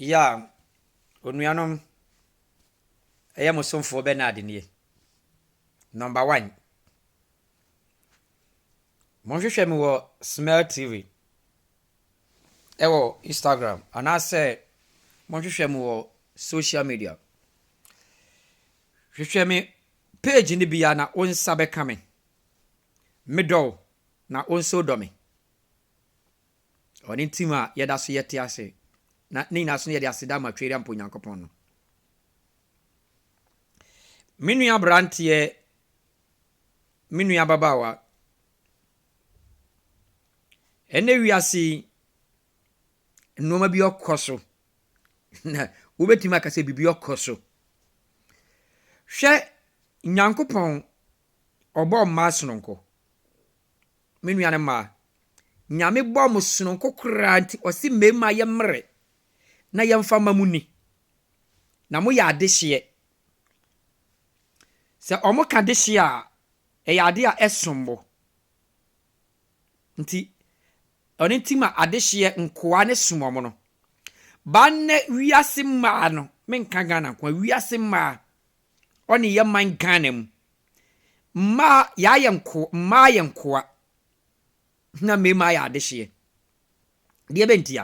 Ya, onuanom, ɛyɛ mo somfoɔ Bernard nie. Number one. Monhwehwɛ me wɔ Smell TV ɛwɔ Instagram anaasɛ monhwehwɛ me wɔ social media. Hwehwɛ me page no bia na wo nsa bɛka me. Medɔ wo na wo nso dɔ me. Ɔne ntsim a yɛda so yɛtse ase, na ne nyina so no yɛdze aseda ma Twerammpɔ Nyankopɔn no. Me nua aberanteɛ, me nua ababaawa, ɛnɛ wiase yi, nnoɔma bi ɔkɔ so, na wobɛtumi aka sɛ biribi ɔkɔ so. Hwɛ Nyankopɔn, ɔbɔɔ mmaa sononko. me nua no mmaa. Nyame bɔɔ mo sononko koraa nti ɔse mmarima yɛ mmrɛ na yɛmfa mma mo ni. Na mo yɛ adehyeɛ. Sɛ wɔn ka dehyeɛ a, ɛyɛ adeɛ a ɛsom bo. Nti ɔno nti ma adehyeɛ nkoa no som wɔn no. Ba nnɛ wiase mmaa no, menka Ghana nkoa, wiase mmaa, ɔne yɛ man Ghana mu, Mmaa yɛayɛ nko mmaa yɛ nkoa na mmarima ayɛ adehyeɛ. Deɛ bɛ ntia?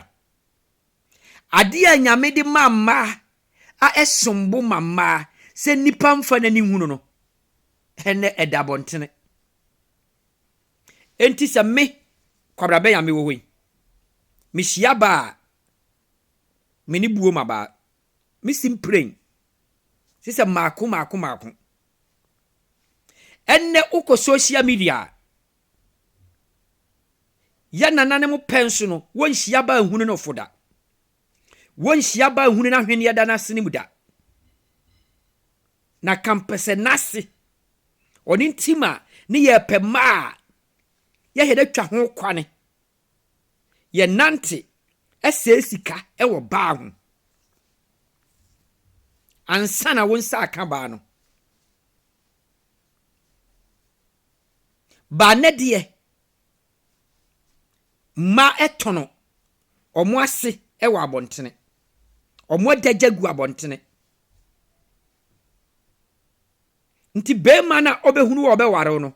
Adeɛ a Nyame de maa mmaa a ɛsom bo ma mmaa sɛ nnipa mfa n'ani nhunu no, ɛnɛ ɛda abɔntene. Enti sɛ me, Kwabena Bɛn a mewɔ hɔ yi, mehyia baa a, me ne buo ma baa. me si mprɛn te sɛ mako mako mako. Ɛnnɛ wokɔ social media a, yɛn nananom pɛ nso no, wonhyia baa nhunu no fo da. Wonhyia baa nhunu no ahweneɛ da n'ase no mu da. Na kampɛsɛ n'ase. Ɔno nti ma ne yɛpɛ mmaa a yɛhɛ dɛ twa ho kwane. yɛnante sɛe sika wɔ baa ho ansa na wo nsa aka baa no. Baa nnɛ deɛ, mmaa tɔn wɔn ase wɔ abɔntene. Wɔadagya gu abɔntene. Nti barima no a ɔbɛhunu wo a ɔbɛware wo no,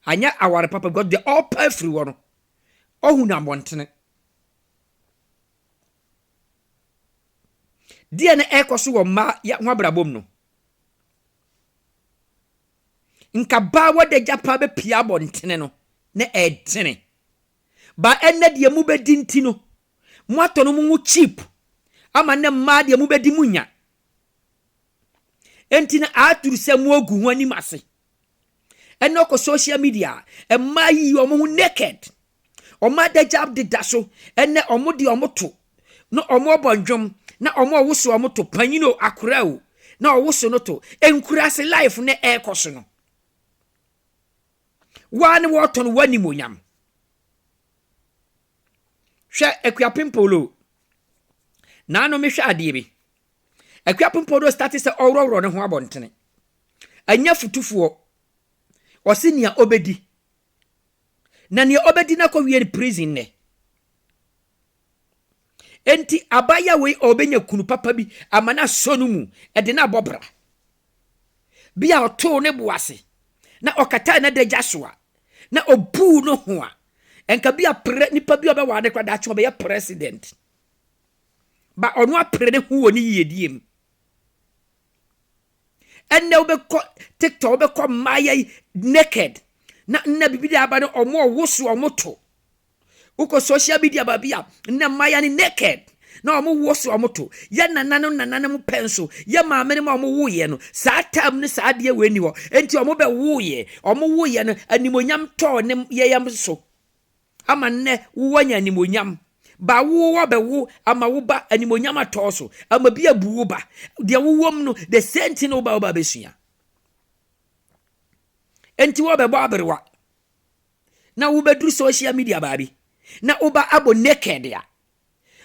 anyɛ aware papa because deɛ ɔrepa afiri hɔ no, ɔhu no abɔntene. Deɛ na ɛrekɔ so wɔ mmaa yɛ ho abrabɔ mu no, nka baa wɔda gya paa bɛpia abɔntene no na ɛdene. Ba ɛnɛ deɛ mobɛdi nti no, moatɔ no mo ho cheap ama nnɛ mmaa deɛ mobɛdi mu nya Enti na aduru sɛ moagu ho anim ase. Ɛna ɔkɔ social media a, mmaa yi wɔn ho naked. Wɔn adagyaw deda so. Ɛnɛ wɔn de wɔn to na wɔbɔ nnwom na wɔn a wɔwoso wɔn to panyin o akora o na wɔwoso no to. Nkuraase life na ɛrekɔ so no. Waa ne wɔtɔn w'animonyam. Hwɛ Akuapem Polo. Naano mehwɛ adeɛ bi. Akuapem Polo starte sɛ ɔworɔworɔ ne ho abɔntene. Ɛnyɛ futufoɔ. Ɔse nea ɔbɛdi. Na nea ɔbɛdi no akɔwie no prison nɛ. Enti abaayewa wei ɔbɛnya kunu papa bi ama no asɔ no mu de no abɔ bra. Bi a ɔtoo ne bo ase na ɔkataa n'adagya so a na ɔbuu no ho a Nka bi a pre nipa bi a ɔbɛware no kora daakye ɔbɛyɛ president. Ba ɔno apere ne ho wɔ ne yiedie mu. Ɛnna wobɛkɔ tiktok wobɛkɔ mmaayɛ yi naked na nna biribi de aba no ɔmo ɔwoso ɔmo to. Wokɔ social media baabi a nna mmaayɛ ne naked. na wɔn wuo so wɔn to yɛ nananom nananom pɛ nso yɛ maamenom a wɔn woo yɛ no saa taam no saa adeɛ wei ni hɔ nti wɔn bɛ woo yɛ wɔn woo yɛ no animonyam tɔɔ ne yɛ yam so ama nnɛ wowɔ nya animonyam ba wowɔ bɛ wo ama wo ba animonyam atɔɔ so ama bi abu wo ba deɛ wowɔm no the same thing wo ba wo ba bɛsua nti wɔ bɛbɔ aberewa na wobɛduru social media baabi na woba abɔ naked a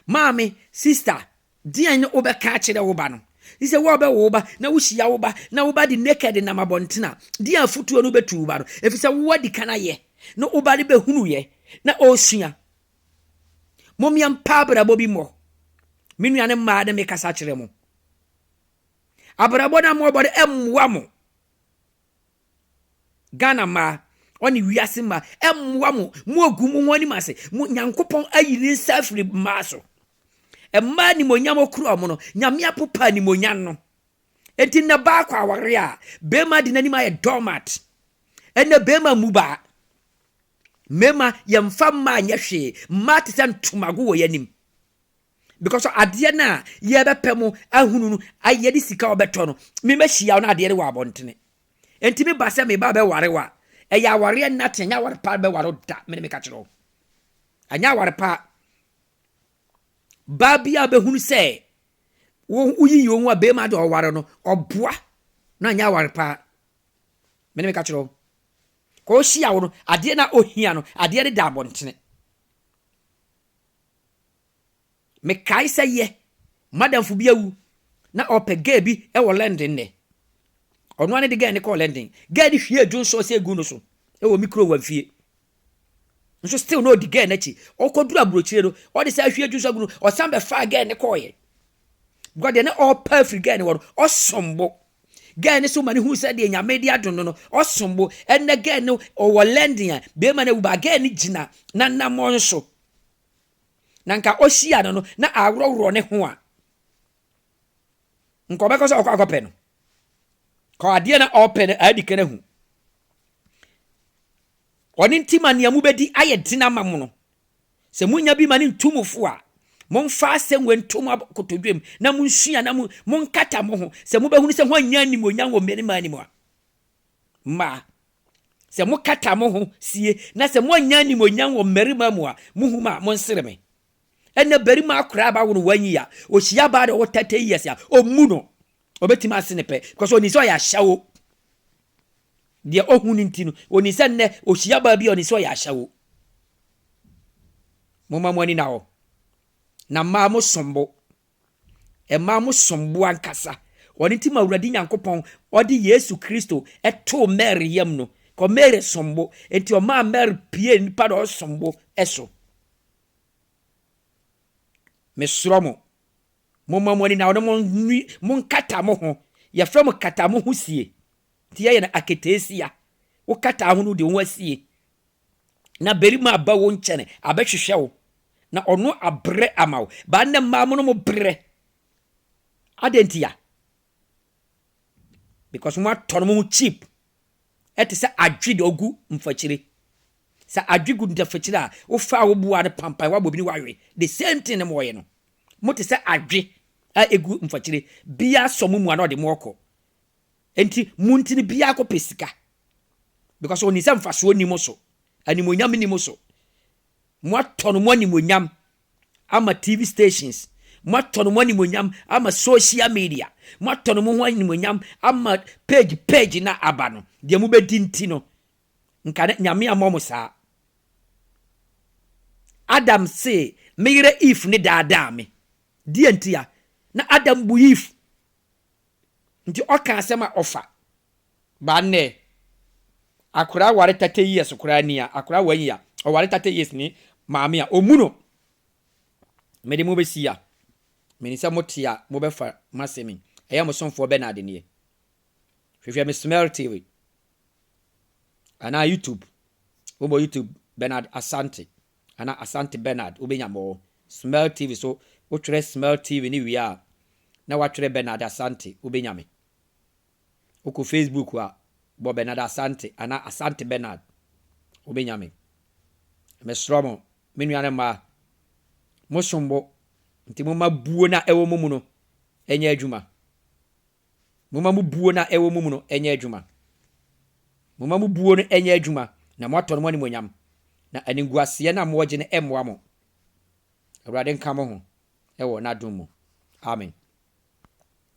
Maame, sista, deɛn ne wobɛka akyerɛ wo ba no? Yi sɛ wo a wobɛwo wo ba na wohyia wo ba na wo ba de naked nam abɔnten a, deɛn afotuo no wobɛtu wo ba no? Ɛfiri sɛ wo adi kan ayɛ na wo ba no bɛhunuiɛ na ɔresua. Mom yɛmpa abrabɔ bi mmɔ. Me nuane mmaa ne mekasa kyerɛ mo. Abrabɔ no a moɔbɔ no ɛmmoa mo. Ghana mmaa ɔne wiase mmaa ɛmmoa mo mo agu mo ho anim ase mo nyankopɔn ayi ne nsa afiri mmaa so mmaa nimonyam okura ɔmo no nyame apopa nimonyam no eti nnɛ baako aware a bɛrima de n'anim ayɛ doormat ɛnna bɛrima mu baa mmarima yɛmfa mmaa nyɛ hwee mmaa te sɛ ntomago wɔ yɛn anim because adeɛ no a yɛbɛpɛ mu ahunu no ayɛ de sika ɔbɛtɔ no memɛhyia wo no adeɛ no wɔ abɔntene enti meba sɛ meba bɛware wa ɛyɛ awareɛ nate ɛnyɛ aware pa bɛware da mene meka kyerɛ wo ɛnyɛ aware pa baa bi a bɛhunu sɛ woyiyi wo ho a bɛma de ɔware no ɔboa na ɛnyɛ aware pa mene meka kyerɛ wo ka ɔhyia wo no adeɛ no a ɔhia no adeɛ no da abɔntene Mekae sɛ yɛ, m'adamfo bi awu na ɔpɛ girl bi wɔ London nnɛ. Ɔno ara ne de girl no kɔɔ London. Girl no hwiee June sauce egu no so wɔ me kurom Wamfie. Nso still na ɔdi girl no akyi. Ɔkɔduru aburokyire no, ɔde saa ahwie June sauce agu no, ɔsan bɛfaa girl no kɔɔeɛ. Because deɛ na ɔrepɛ afiri girl no hɔ no, ɔsom bo. Girl no so ma no hu sɛ deɛ Nyame de adom no no, ɔsom bo. Ɛnnɛ girl no ɔwɔ London a, bɛrima no awu, but girl no gyina n'anammɔn so. na nka ohyia no no na aworɔworɔ ne ho a, nka ɔbɛkɔ sɛ ɔkɔ akɔpɛ no. Ka adeɛ na ɔpɛ no adi kan ahu. Ɔne nti ma nea mobɛdi ayɛ den ama mo no. Sɛ monya bi ma ne ntu mo fo a, momfa asɛm wei nto mo akotodwam na monsua na monkata mo ho sɛ mobɛhunu sɛ hoanya animuonyam wɔ mmarima anim a. mma. Sɛ mokata mo ho sie na sɛ moannya animuonyam wɔ mmarima mu a, muhu me a, monsere me. Ɛnna barima akora a bawo no wanyi a, ohyia baa na ɔwɔ thirty years a, ommu no. Obetumi ase ne pɛ because onim sɛ ɔyɛ ahyɛwo. Deɛ ohu no nti no, onim sɛ nnɛ ohyia baa bi a onim sɛ ɔyɛ ahyɛwo. Momma mo ani na hɔ. Na mmaa mosom bo. Ɛmaa mo som bo ankasa. Ɔno nti ma Awurade Nyankopɔn ɔde Yesu Kristo too Mary yam no, kɔ Mary som bo. Enti ɔmaa Mary pie nnipa na ɔsom bo so. Mesrɛ mo, momma mo ani na ɔne mo nwi, mo nkata mo ho. Yɛfrɛ mo kata mo ho sie. Nti yɛyɛ no aketeesia. Wokata ho no, wode wo ho asie. na barima aba wo nkyɛn abɛhwehwɛ wo na ɔno abrɛ ama wo baa nnɛ mmaa mo no mo brɛ adɛn nti a because mo atɔ no mo ho cheap ɛte sɛ adwe de ɔgu mfakyire sɛ adwe gu mfakyire a wofa a woboa no pampan woabɔ bi ne woawe the same thing na mo ɔyɛ no mo te sɛ adwe a ɛgu mfakyire biara sɔ mo mu a na ɔde mo ɔkɔ Enti mo nti no biako pɛ sika because ɔnim sɛ mfasoɔ nni mo so, animuonyam nni mo so. Moatɔn mo animuonyam ama TV stations, moatɔn mo animuonyam ama social media, moatɔn mo ho animuonyam ama page page na aba no, deɛ mobɛdi nti no, nka ne nyame ammɔ mo saa. Adam se me yere Eve ne daadaa me, deɛ ntia? Na Adam bu Eve Nti ɔka asɛm a ɔfa ba nnɛ akora ware thirty years koraa ni a akora one year ɔware thirty years ni maame a ɔmu no mede mo bɛsi a menim sɛ mote a mobɛfa masɛm yi ɛyɛ mo somfoɔ Bernard nie hwehwɛ me smell tv anaa youtube wobɔ youtube Bernard Asante Ana Asante Bernard wo bɛnya mɔɔ smell TV so wo twerɛ smell TV no wie a na watwerɛ Bernard Asante wo bɛnya me wo kɔ Facebook a bɔ Bernard Asante ana Asante Bernard wo bɛnya me me srɔ mo me nua ne mmaa mo som bo nti mo ma buo na ɛwɔ mo mu no ɛnyɛ adwuma. Momma mo buo no a ɛwɔ mo mu no nyɛ adwuma. Momma mo buo no nyɛ adwuma, na moatɔ no mo animuonyam, na animguaseɛ no a mowɔ gye no mmoa mo. Awurade nka mo ho wɔ n'adom mu. Amen.